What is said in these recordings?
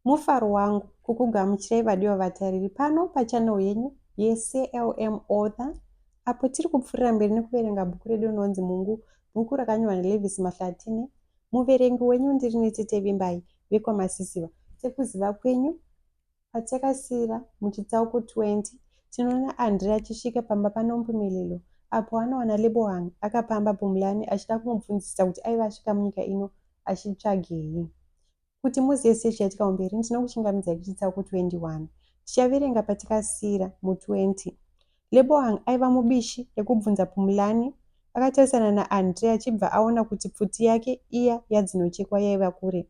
Mufaro wangu kukugamuchirai vadiwa vatariri pano pachannel yenyu yeCLM Author apo tiri kupfuurira mberi nekuverenga bhuku redu rinonzi Mungu, bhuku rakanyorwa naLevis Mahlatine. Muverengi wenyu ndiri Nitete Vimbai vekwaMasisiva. Sekuziva kwenyu, Patakasira muchitsauko 20, tinoona Andre achisvika pamba paNompumelelo apo anowana Lebohang akapamba Bumlani achida kumubvunzisa kuti aive asvika munyika ino achitsvagei. Kuti muzive sezvichaitika kumberi, ndinokuchingamidzai kuchitsauko 21. Tichaverenga patakasira mu20. Lebohang aiva mubishi rekubvunza Bumlani akatarisana naAndre achibva aona kuti pfuti yake iya yadzinochekwa yaiva kure.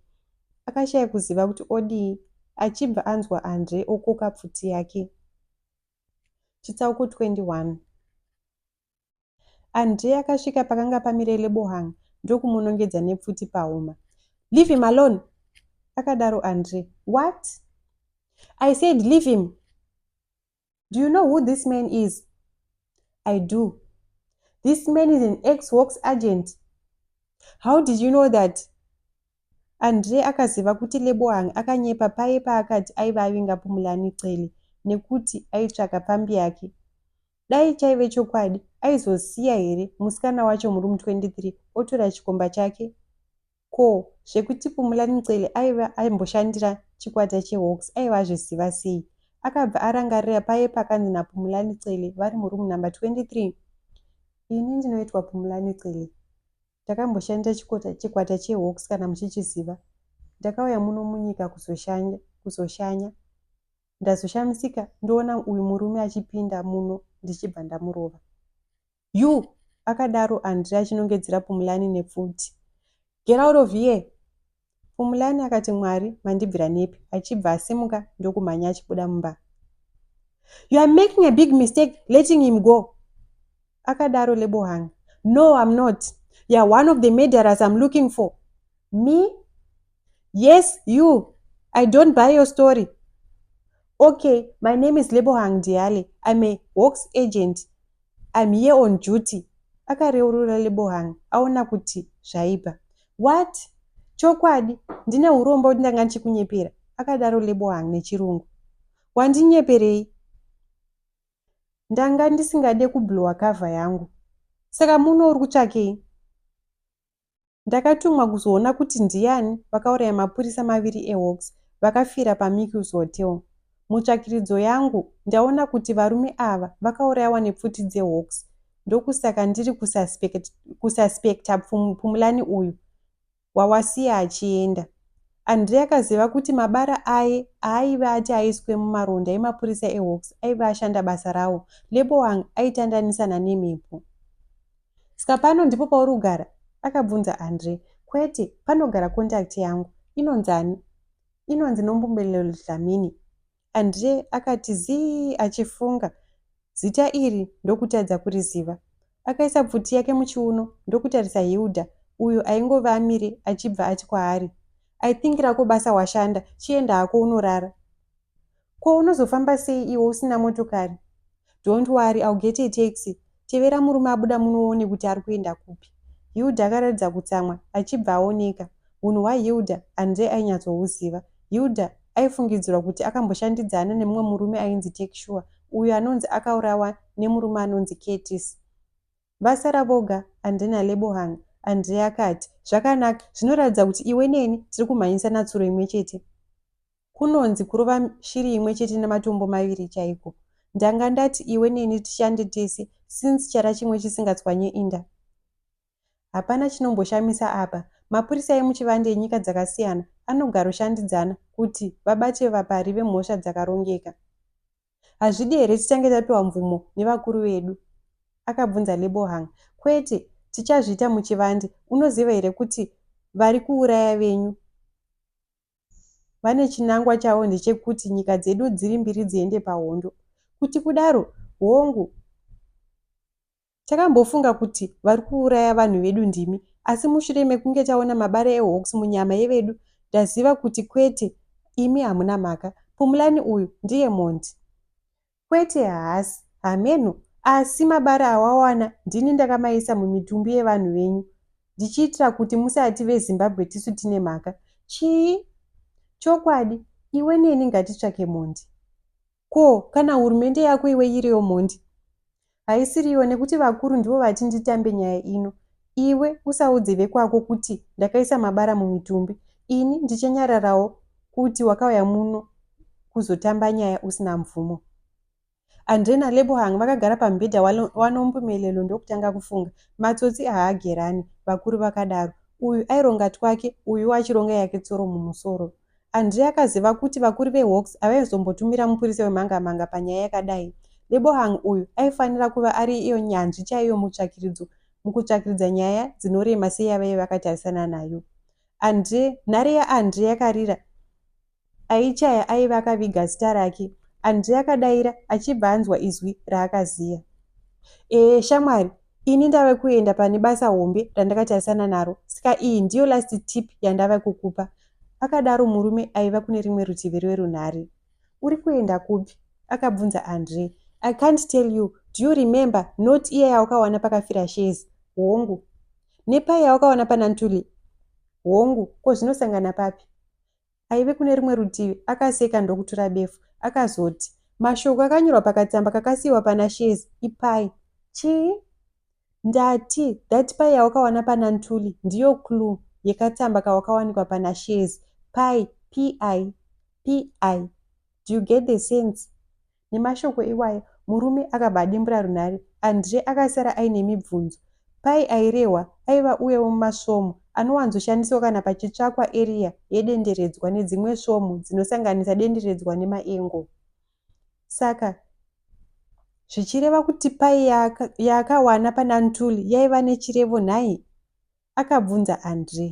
Akashaya kuziva kuti odii achibva anzwa Andre okoka pfuti yake. Chitsauko 21 Andre akasvika pakanga pamire Lebohang ndokumunongedza nepfuti pahuma. Leave him alone! akadaro Andre. What? I said leave him! Do you know who this man is? I do. This man is an ex-works agent. How did you know that? Andre akaziva kuti Lebohang akanyepa paye paakati aiva avinga Pumulani Cele nekuti aitsvaka pfambi yake. Dai chaive chokwadi, aizosiya here musikana wacho muroom 23 otora chikomba chake? Ko zvekuti Pumulani Ncele aive aimboshandira chikwata cheHawks aive azviziva sei? Akabva arangarira paye pakanzi naPumulani Cele vari muroom number 23. Ini ndinoitwa Pumulani Cele. Ndakamboshandira chikota, chikwata cheHawks kana muchichiziva. Ndakauya muno munyika kuzoshanya, kuzoshanya. Ndazoshamisika ndoona uyu murume achipinda muno ndichibva ndamurova. You! akadaro Andre achinongedzera Pumulani nepfuti. Get out of here! Pumulani akati Mwari mandibvira nepi achibva asimuka ndokumhanya achibuda mumba. You are making a big mistake letting him go! akadaro Lebohang. No, I'm not. You are one of the murderers I'm looking for. Me? Yes, you. I don't buy your story. Okay, my name is Lebohang Diale. I'm a Hawks agent. I'm here on duty. Akareurura Lebohang aona kuti zvaipa. What? Chokwadi, ndine urombo kuti ndanga ndichikunyepera, akadaro Lebohang nechirungu. Wandinyeperei? Ndanga ndisingade kublowa cover yangu. Saka muno uri kutsvakei? Ndakatumwa kuzoona kuti ndiani vakauraya mapurisa maviri eHawks vakafira paMickey's Hotel. Mutsvakiridzo yangu, ndaona kuti varume ava vakaurayawa nepfuti dzeHawks ndokusaka ndiri kususpecta Phumlani uyu wawasiya achienda. Andre akaziva kuti mabara aye aaive ati aiswe mumaronda emapurisa eHawks aive ashanda basa rawo. Leboang aitandanisana nemhepo. Ska pano ndipo pauri kugara? Akabvunza Andre. Kwete, panogara contact yangu. Inonzi ani? Inonzi Nompumelelo Dlamini. Andre akati zii achifunga. Zita iri ndokutadza kuriziva. Akaisa pfuti yake muchiuno ndokutarisa Hilda uyo aingove amire achibva ati kwaari, I think rako basa washanda, chienda hako unorara. Ko unozofamba sei iwe usina motokari? Don't worry, I'll get a taxi. Tevera murume abuda muno uone kuti ari kuenda kupi. Hilda akaratidza kutsamwa achibva aoneka. Hunhu hwaHilda Andre ainyatsohuziva. Hilda aifungidzirwa kuti akamboshandidzana nemumwe murume ainzi Takesure uyo anonzi akaurawa nemurume anonzi Curtis. Vasara voga Andre naLebohang. Andre akati, Zvakanaka, zvinoratidza kuti iwe neni tiri kumhanyisa natsuro imwe chete. Kunonzi kurova shiri imwe chete nematombo maviri chaiko. Ndanga ndati iwe neni tishande tese since chara chimwe chisingatswanye inda. Hapana chinomboshamisa apa. Mapurisa emuchivande enyika dzakasiyana anogaroshandidzana kuti vabate vapari vemhosva dzakarongeka. Hazvidi here titange tapiwa mvumo nevakuru vedu? Akabvunza Lebohang. Kwete, tichazviita muchivande. Unoziva here kuti vari kuuraya venyu? vane chinangwa chavo ndechekuti nyika dzedu dziri mbiri dziende pahondo. Kuti kudaro, hongu, takambofunga kuti vari kuuraya vanhu vedu ndimi, asi mushure mekunge taona mabara eHawks munyama yevedu, taziva kuti kwete, imi hamuna mhaka. Pumlani uyu ndiye mhondi. Kwete haasi. Hameno. Asi mabara awawana ndini ndakamaisa mumitumbi yevanhu venyu ndichiitira kuti musati veZimbabwe tisu tine mhaka. Chii? Chokwadi, iwe neni ngatitsvake mhondi. Ko, kana hurumende yako iwe iriyo mhondi? Haisiriyo nekuti vakuru ndivo vati nditambe nyaya ino. Iwe usaudze vekwako kuti ndakaisa mabara mumitumbi. Ini ndichanyararawo kuti wakauya muno kuzotamba nyaya usina mvumo. Andre naLebohang vakagara pamubhedha waNompumelelo ndokutanga kufunga. Matsotsi haagerani, vakuru vakadaro. Uyu aironga twake, uyuwo achironga yake tsoro mumusoro. André akaziva kuti vakuru veHawks havaizombotumira mupurise wemhangamhanga panyaya yakadai. Lebohang uyu aifanira kuva ari iyo nyanzvi chaiyo mutsvakiridzo mukutsvakiridza nyaya dzinorema seyavaive vakatarisana nayo. André, nhare yaAndré yakarira aichaya aive akaviga zita rake. André akadaira achibva anzwa izwi raakaziya. Ee, shamwari, ini ndave kuenda pane basa hombe randakatarisana naro, saka iyi ndiyo last tip yandave kukupa. Akadaro murume aiva kune rimwe rutivi rwerunhare. Uri kuenda kupi? Akabvunza Andre. I can't tell you. Do you remember note iya yawakawana pakafira Shezi? Hongu. Nepai yawakawana pana Ntuli? Hongu. Ko zvinosangana papi? Aive kune rimwe rutivi akaseka ndokutura befu. Akazoti. Mashoko akanyorwa pakatsamba kakasiiwa pana Shezi. Ipai. Chii? Ndati that pie yawakawana pana Ntuli ndiyo clue yekatsamba kawakawanikwa pana Shezi. Pie, P-I, P-I. Do you get the sense? Nemashoko iwaya murume akabva adimbura runhare. Andre akasara aine mibvunzo. Pie airehwa aiva uya wemumasvomhu anowanzoshandiswa kana pachitsvakwa area yedenderedzwa nedzimwe svomhu dzinosanganisa denderedzwa nemaengo. Saka zvichireva kuti pai yaakawana pana Ntuli yaiva nechirevo nhai? akabvunza Andre.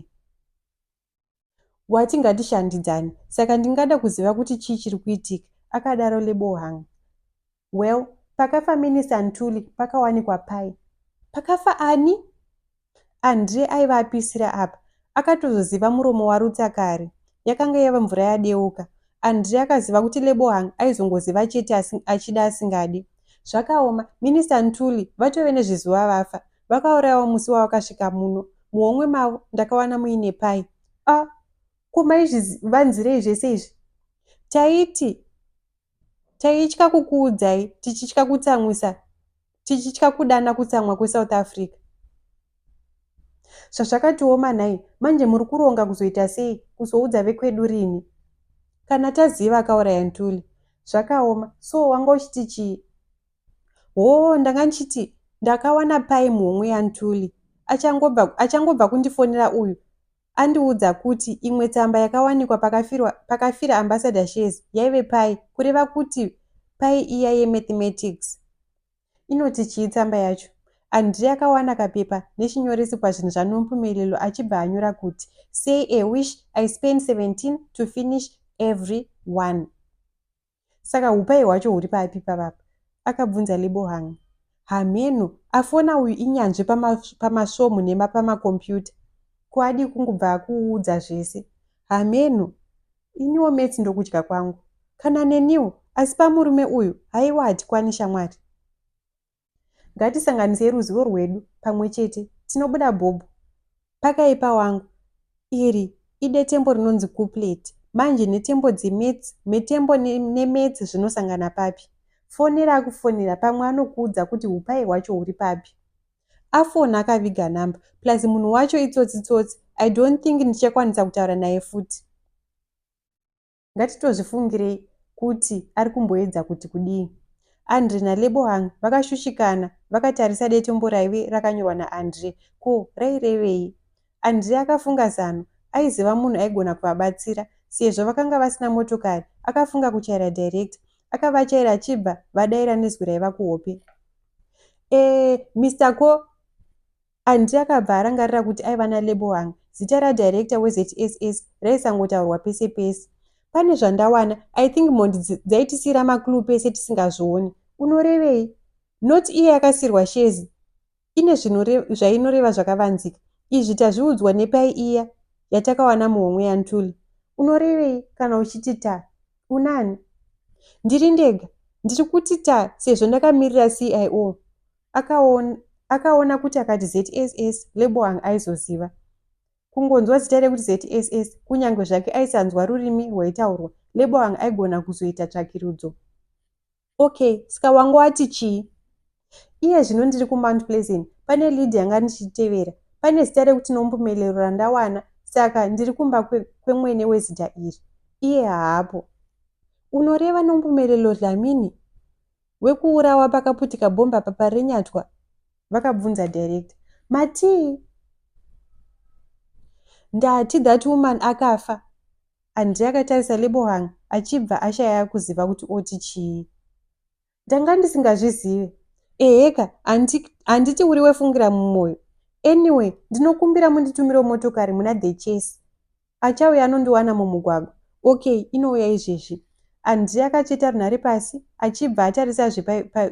Wati ngatishandidzane, saka ndingada kuziva kuti chii chiri kuitika, akadaro Lebohang. Well, pakafa Minista Ntuli pakawanikwa pai? Pakafa ani? Andre aiva apisira apa akatozoziva muromo waRutsa kare. Yakanga yava mvura yadeuka. Andre akaziva kuti Lebohang aizongoziva chete asi, achida asingadi. Zvakaoma, Minister Ntuli vatove nezvizuva vafa. Vakaurayawo musi wavakasvika muno. Muhomwe mavo ndakawana muine pai. Ah, ko maizvivanzirei zvese izvi? Taiti Taitya kukuudzai, tichitya kutsamwisa, tichitya kudana kutsamwa kweSouth Africa. Zvazvakatioma nhai, manje muri kuronga kuzoita sei, kuzoudza vekwedu rini? Kana taziva akauraya Ntuli. Zvakaoma, so wanga uchiti chii? Hoo, ndanga ndichiti ndakawana pai mhomho yaNtuli, achangobva, achangobva kundifonera uyu, andiudza kuti imwe tsamba yakawanikwa pakafirwa pakafira ambassador shares yaive pai kureva kuti pai iya yemathematics inoti chii tsamba yacho andrey akawana kapepa nechinyoresi pazvinhu zvanompumelelo achibva anyora kuti say a wish i spend 17 to finish every one Saka hupai hwacho huri papi pavapa? akabvunza Lebohang. Hameno, afona uyu inyanzvi pamasvomhu nemapamakompiyuta. Ko adii kungobva akuudza zvese? Hameno, iniwo metsi ndokudya kwangu. Kana neniwo, asi pamurume uyu, haiwa hatikwani shamwari. Ngatisanganisei ruzivo rwedu pamwe chete. Tinobuda bhobho. Pakaipa wangu. Iri idetembo rinonzi couplet. Manje nhetembo dzemaths, mhetembo nemaths zvinosangana papi? Fonera akufonera pamwe anokuudza kuti upai hwacho huri papi. Afona akaviga number plus munhu wacho itsotsi tsotsi. I don't think ndichakwanisa kutaura naye futi. Ngatitozvifungirei kuti ari kumboedza kuti kudii. Andre naLebohang vakashushikana vakatarisa detembo raive rakanyorwa naAndre. Ko rairevei? Andre akafunga zano. Aiziva munhu aigona kuvabatsira. Sezvo vakanga vasina motokari, akafunga kuchaira director. Akavachaira achibva vadaira nezwi raiva kuhope. Eh, Mister Ko. Andy akabva arangarira kuti aiva naLebohang, zita radirector weZSS raisangotaurwa pese pese. Pane zvandawana, I think mhondi dzaitisiira maclue pese tisingazvioni. Unorevei? Not iye akasiirwa shezi ine zvainoreva zvakavanzika. Izvi tazviudzwa nepai iya yatakawana muhomwe yaNtuli. Unorevei kana uchiti ta? Unani? Ndiri ndega. Ndiri kuti ta sezvo ndakamirira CIO. akaona akaona kuti akati zss leboang aizoziva kungonzwa zita rekuti zss kunyange zvake aisanzwa rurimi rwaitaurwa leboang aigona kuzoita tsvakirudzo okay ska wanga wati chii iye zvino ndiri kumount pleasant pane lead yanga ndichitevera pane zita rekuti nombumelero randawana saka ndiri kumba kwemwene kwe wezita iri iye haapo unoreva nombumelelo dlamini Wekuurawa pakaputika bhomba apa parenyatwa? Vakabvunza director. Matii? Ndati that woman akafa. Andre akatarisa Lebohang achibva ashaya kuziva kuti oti chii. Ndanga ndisingazvizive. Eheka, handiti uri wefungira mumwoyo. Anyway, ndinokumbira munditumiro motokari muna the chase. Achauya anondiwana mumugwagwa. Okay, inouya izvezvi. Andrey akacheta runhare pasi achibva atarisa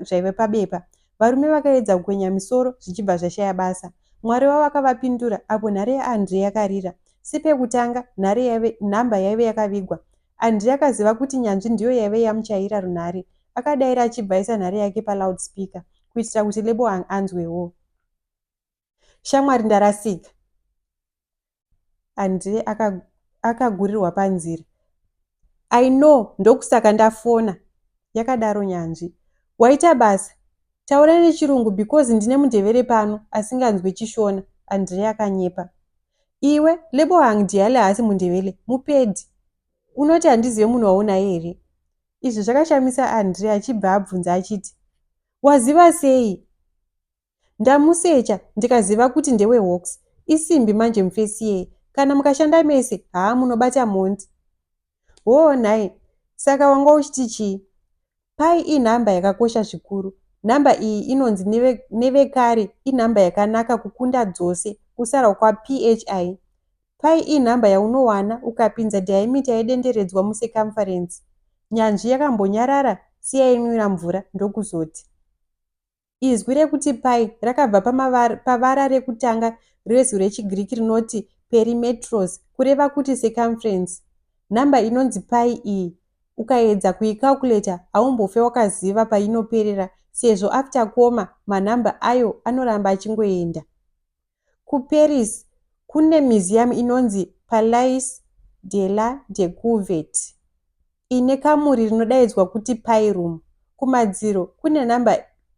zvaive pabepa. Varume vakaedza kukwenya misoro zvichibva zvashaya basa. Mwari wavo akavapindura apo nhare yaAndrey yakarira. Sepekutanga, nhare yaive, nhamba yaive yakavigwa. Andrey akaziva kuti nyanzvi ndiyo yaive yamuchayira runhare. Akadaira achibva aisa nhare yake paloud speaker kuitira kuti Leboang anzwewo. shamwari ndarasika and akagurirwa panzira i know ndokusaka ndafona yakadaro nyanzvi waita basa taura nechirungu because ndine mundevere pano asinganzwe chishona andrea akanyepa iwe lebohang diale haasi mundevele mupedi unoti handizive munhu waunaye here izvi zvakashamisa andrea achibva abvunza achiti waziva sei Ndamusecha ndikaziva kuti ndewe Hawks. Isimbi manje mufesi iyeye. Kana mukashanda mese, haa munobata mhondi. Hoo nhai, saka wanga uchiti chii? Pi inhamba yakakosha zvikuru. Nhamba iyi inonzi neve, nevekare inhamba yakanaka kukunda dzose kusara kwaPHI. Pi inhamba yaunowana ukapinza diameter yedenderedzwa mucircumference. Nyanzvi yakambonyarara, siya inwira mvura, ndokuzoti. Izwi rekuti pai rakabva pavara rekutanga rezwi rechiGiriki rinoti perimetros, kureva kuti circumference. Nhamba inonzi pai iyi ukaedza kuicalculator haumbofe wakaziva painoperera sezvo after koma manhamba ayo anoramba achingoenda. KuParis kune museum inonzi Palais de la Decouverte ine kamuri rinodaidzwa kuti Pi Room. Kumadziro kune nhamba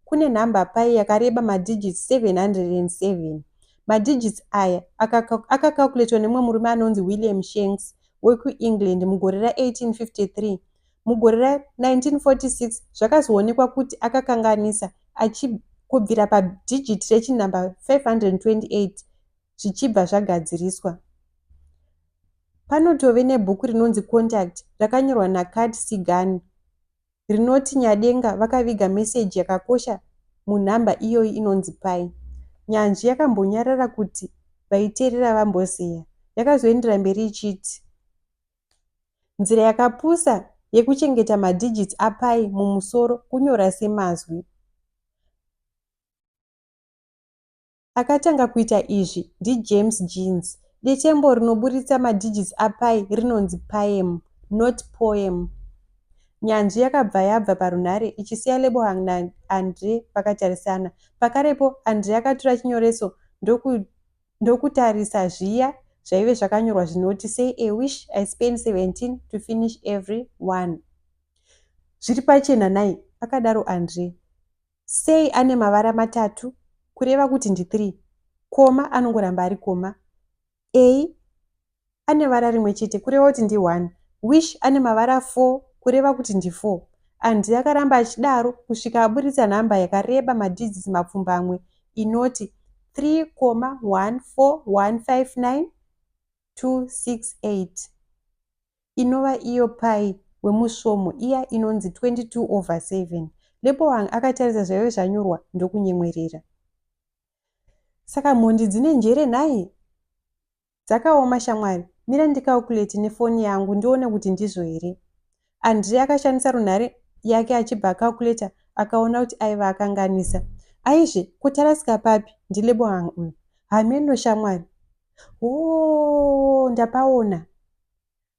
kune nhamba pi yakareba madigits 707. Madigits aya akakakuletwa nemumwe murume anonzi William Shanks wekuEngland mugore ra1853 Mugore ra 1946 zvakazoonekwa kuti akakanganisa achib kubvira padhijiti rechinhamba 528 zvichibva zvagadziriswa. Panotove nebhuku rinonzi Contact rakanyorwa naCard Sigani rinoti Nyadenga vakaviga meseji yakakosha munhamba iyoyi inonzi pai. Nyanzvi yakambonyarara kuti vaiteerera vambozeya. Yakazoendera mberi ichiti, Nzira yakapusa yekuchengeta madigits aPi mumusoro kunyora semazwi. Akatanga kuita izvi ndiJames Jeans. Detembo rinoburitsa madigits aPi rinonzi paem, not poem. Nyanzvi yakabva yabva parunhare ichisiya Lebohang naAndre vakatarisana. Pakarepo André akatura chinyoreso ndoku ndokutarisa zviya zvaive zvakanyorwa zvinoti say a wish i spend 17 to finish every one zviri pachena nai akadaro andre say ane mavara matatu kureva kuti ndi 3 koma anongoramba ari koma a ane vara rimwe chete kureva kuti ndi one. Wish ane mavara four kureva kuti ndi four. Andy akaramba achidaro kusvika aburitsa nhamba yakareba madhijitsi mapfumbamwe inoti 3,14159,268 inova iyo pai wemusvomo iya inonzi 22 over 7. Leboang akatarisa zvaive zvanyorwa ndokunyemwerera. Saka mhondi dzine njere nhai? Dzakaoma shamwari, mira ndicalculate nefoni yangu ndione kuti ndizvo here. Andrey akashandisa runhare yake achibva acalculator akaona kuti aiva akanganisa. Aizve, ko tarasika papi? NdiLebohang uyu. Hameno shamwari. Hoo, ndapaona.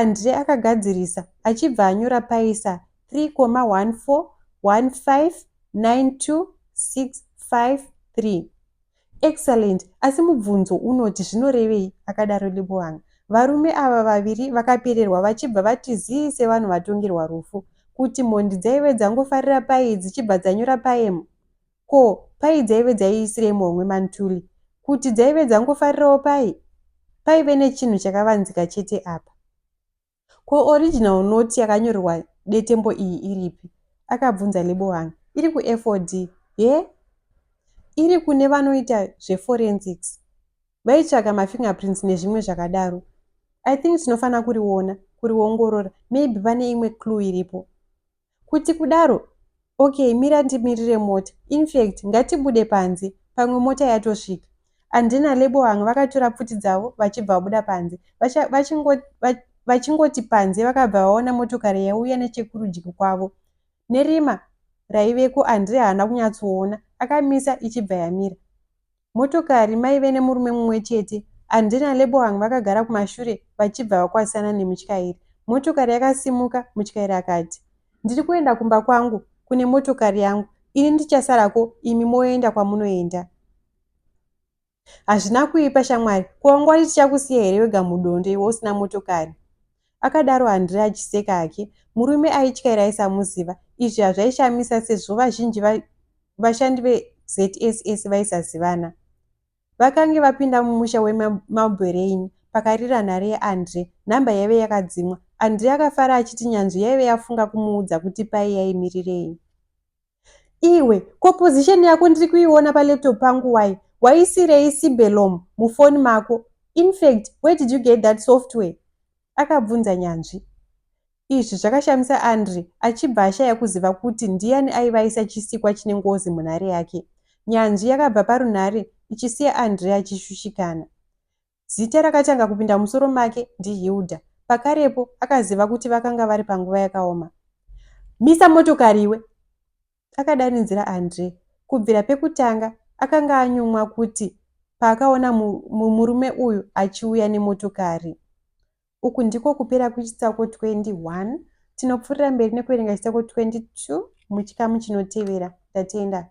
Andre akagadzirisa achibva anyora paisa 3,14,15,9,2,6,5,3. Excellent, asi mubvunzo unoti zvinorevei? akadaro Lebohang. Varume ava vaviri vakapererwa vachibva vati zii sevanhu vatongerwa rufu. Kuti mhondi dzaive dzangofarira payi dzichibva dzanyora paemu? Ko pai dzaive dzaiisirei muhomwe mantuli kuti dzaive dzangofarirawo pai? Paive nechinhu chakavanzika chete apa. Ko original note yakanyorerwa detembo iyi iripi? Akabvunza Lebohang. Iri kuFOD. He? Iri kune vanoita zveforensics. Vaitsvaga mafingerprints nezvimwe zvakadaro. I think tinofanira kuriona, kuriongorora, maybe pane imwe clue iripo. Kuti kudaro Ok mira ndimirire mota infact ngatibude panze pamwe mota yatosvika Andy naLeboang vakatora pfuti dzavo vachibva vabuda panze vacha vachingo vach vachingoti panze vakabva vaona motokari yaiuya nechekurudyi kwavo nerima raiveko Andy haana kunyatsoona akamisa ichibva yamira Motokari maive nemurume mumwe chete, Andy naLebohang vakagara kumashure vachibva vakwazisana nemutyairi. Motokari yakasimuka, mutyairi akati. Ndiri kuenda kumba kwangu, kune motokari yangu. Ini ndichasarako imi moenda kwamunoenda. Hazvina kuipa shamwari, ko wangwati tichakusiya here wega mudondo iwe usina motokari? Akadaro Andre achiseka hake. Murume aityaira aisamuziva. Izvi hazvaishamisa sezvo vazhinji va, vashandi veZSS vaisazivana. Vakange vapinda mumusha weMalberain pakarira nhare yaAndre. Nhamba yaive yakadzimwa. Andre akafara achiti nyanzvi yaive yafunga kumuudza kuti pai yaimirirei. Iwe, ko position yako ndiri kuiona palaptop pangu why? Waisirei Sibelom mufoni mako? Infact, where did you get that software? Akabvunza Nyanzvi. Izvi zvakashamisa Andre achibva ashaya kuziva kuti ndiyani aiva aisa chisikwa chine ngozi munhare yake. Nyanzvi yakabva parunhare ichisiya Andre achishushikana. Zita rakatanga kupinda mumusoro make ndiHilda. Pakarepo, akaziva kuti vakanga vari panguva yakaoma. Misa motokari iwe! akadarinzira Andre. Kubvira pekutanga, akanga anyumwa kuti paakaona murume uyu achiuya nemotokari. Uku ndiko kupera kwechitsauko 21. Tinopfuurira mberi nekuverenga chitsauko 22 muchikamu chinotevera. Tatenda.